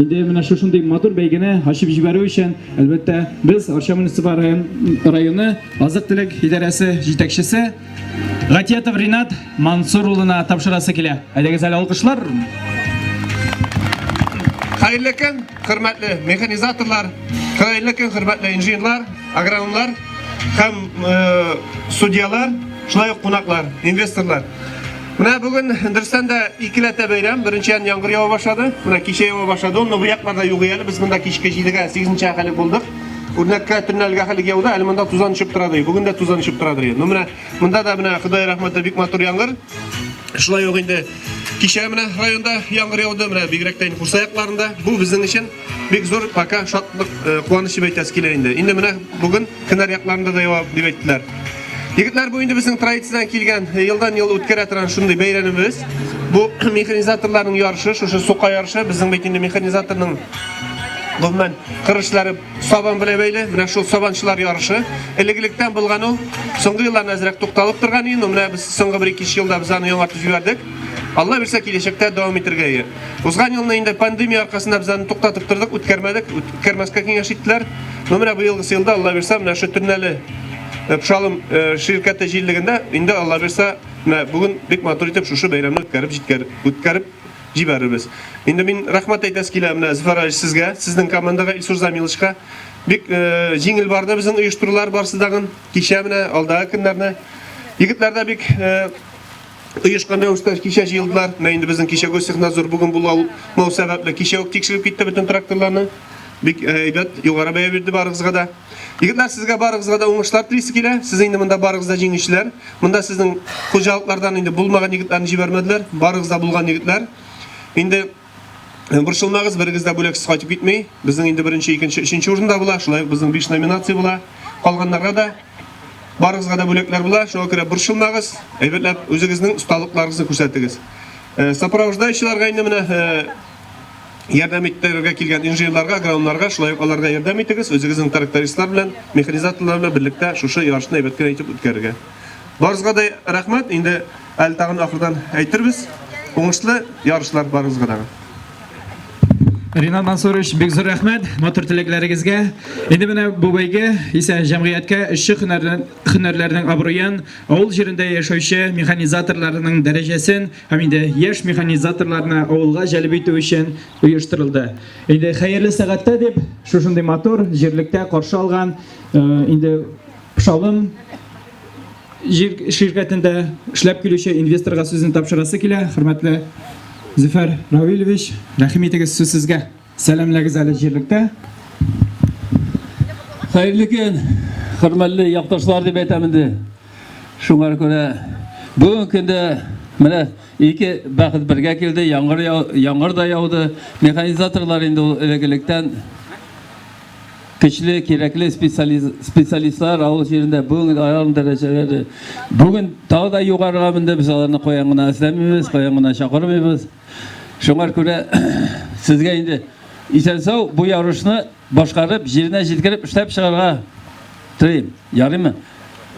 Инде менә шушындый матур бәйгене ачып җибәрү өчен, әлбәттә, без Арча муниципаль район, районы азык-төлек идарәсе җитәкчесе Гатиятов Ринат Мансур улына тапшырасы килә. Әйдәгез әле алкышлар. Хәерле көн, хөрмәтле механизаторлар, хәерле көн, хөрмәтле инженерлар, агрономнар һәм э, судьялар, шулай ук кунаклар, инвесторлар. Менә бүген дөрестән дә икеләтә бәйрәм. Беренчедән яңгыр ява башлады. Менә кичә ява башлады. Ул бу якларда юк әле. Без монда кичке 7-гә, 8-нче хәле булдык. Үрнәккә төнләлгә хәле яуда, әле монда тузан төшеп тора ди. Бүген дә тузан төшеп тора ди. Ну менә монда да менә Ходай рәхмәте бик матур яңгыр. Шулай ук инде кичә менә районда яңгыр яуды, менә бигрәк тә Курса якларында. Бу безнең өчен Бик зур пока шатлык, э, куаныч дип әйтәсе килә инде. Инде менә бүген кенәр якларында да ява дип әйттеләр. Егетләр, бу инде безнең традициядән килгән э, елдан-ел үткәрә торган шундый бәйрәмебез. Бу механизаторларның ярышы, шушы сука ярышы, безнең бит инде механизаторның гомумән кырышлары сабан белән бәйле. Менә шул сабанчылар ярышы. Элек-электән булган ул. Соңгы елларда әзрәк тукталып торган инде. Менә без соңгы 1-2 елда без аны яңартып җибәрдек. Алла бирсә, киләчәктә дәвам итәргә Узган елны инде пандемия аркасында без аны туктатып тордык, үткәрмәдек, үткәрмәскә киңәш иттеләр. Но менә быелгысы елда, Алла бирса, менә шу Төрнәле э, Пшалым э, ширкәте җирлегендә инде Алла бирса, менә бүген бик матур итеп шушы бәйрәмне үткәреп җиткәр, үткәреп җибәрербез. Инде мин рәхмәт әйтәс килә менә Зөфәр Алиш сезгә, сезнең командага Илсур Замиловичка. Бик э, җиңел барды безнең оештырулар барсы дагын. Кичә менә алдагы көннәрне егетләрдә бик э, Оешкан рәвештә кичә җыелдылар. Менә инде безнең кичә Гостехнадзор бүген булмау сәбәпле кичә үк тикшереп китте бөтен тракторларны. Бик э, әйбәт, югары бәя бирде барыгызга да. Егетләр, сезгә барыгызга да уңышлар телисе килә. Сез инде монда барыгыз да җиңүчеләр. Монда сезнең хуҗалыклардан инде булмаган егетләрне җибәрмәделәр. Барыгыз да булган егетләр. Инде Э, борчылмагыз, берегез дә бүләксез кайтып китми. Безнең инде беренче, икенче, өченче урында була. Шулай ук безнең 5 номинация була. Калганнарга да барыгызга да бүләкләр була. Шуңа күрә борчылмагыз, әйбәтләп үзегезнең осталыкларыгызны күрсәтегез. Э, сопровождающийларга инде менә э, ярдәм итәргә килгән инженерларга, агрономнарга, шулай ук аларга ярдәм итегез, үзегезнең трактористлар белән, механизаторлар белән берлектә шушы ярышны әйбәт кенә итеп үткәрергә. Барыгызга да рәхмәт. Инде Әле тагын ахырдан әйтербез. Уңышлы ярышлар барыгызга да. Ринат Мансурович, бик зур рәхмәт матур теләкләрегезгә. Инде менә бу бәйге исә җәмгыятькә эшче һөнәрләрнең абруен, авыл җирендә яшәүче механизаторларның дәрәҗәсен һәм инде яшь механизаторларны авылга җәлеп итү өчен оештырылды. Инде хәерле сәгатьтә дип шушындый матур җирлектә каршы алган э, инде Пшалым җир ширкәтендә эшләп килүче инвесторга сүзен тапшырасы килә. Хөрмәтле Зөфәр Равилевич, рәхим итегез сүз сезгә. Сәламләгез әле җирлектә. Хәерле көн, хөрмәтле якташлар дип әйтәм инде. Шуңар күрә бүген көндә менә ике бәхет бергә килде, яңгыр, яңгыр да яуды. Механизаторлар инде элек-электән Көчле, кирәкле специалистлар авыл җирендә бүген аерым дәрәҗәләре. Бүген тагы да югарыга менде, без аларны каян гына эзләмибез, каян гына чакырмыйбыз. Шуңар күрә сезгә инде исән-сау бу ярышны башкарып, җиренә җиткереп эшләп чыгарга телим. Ярыймы?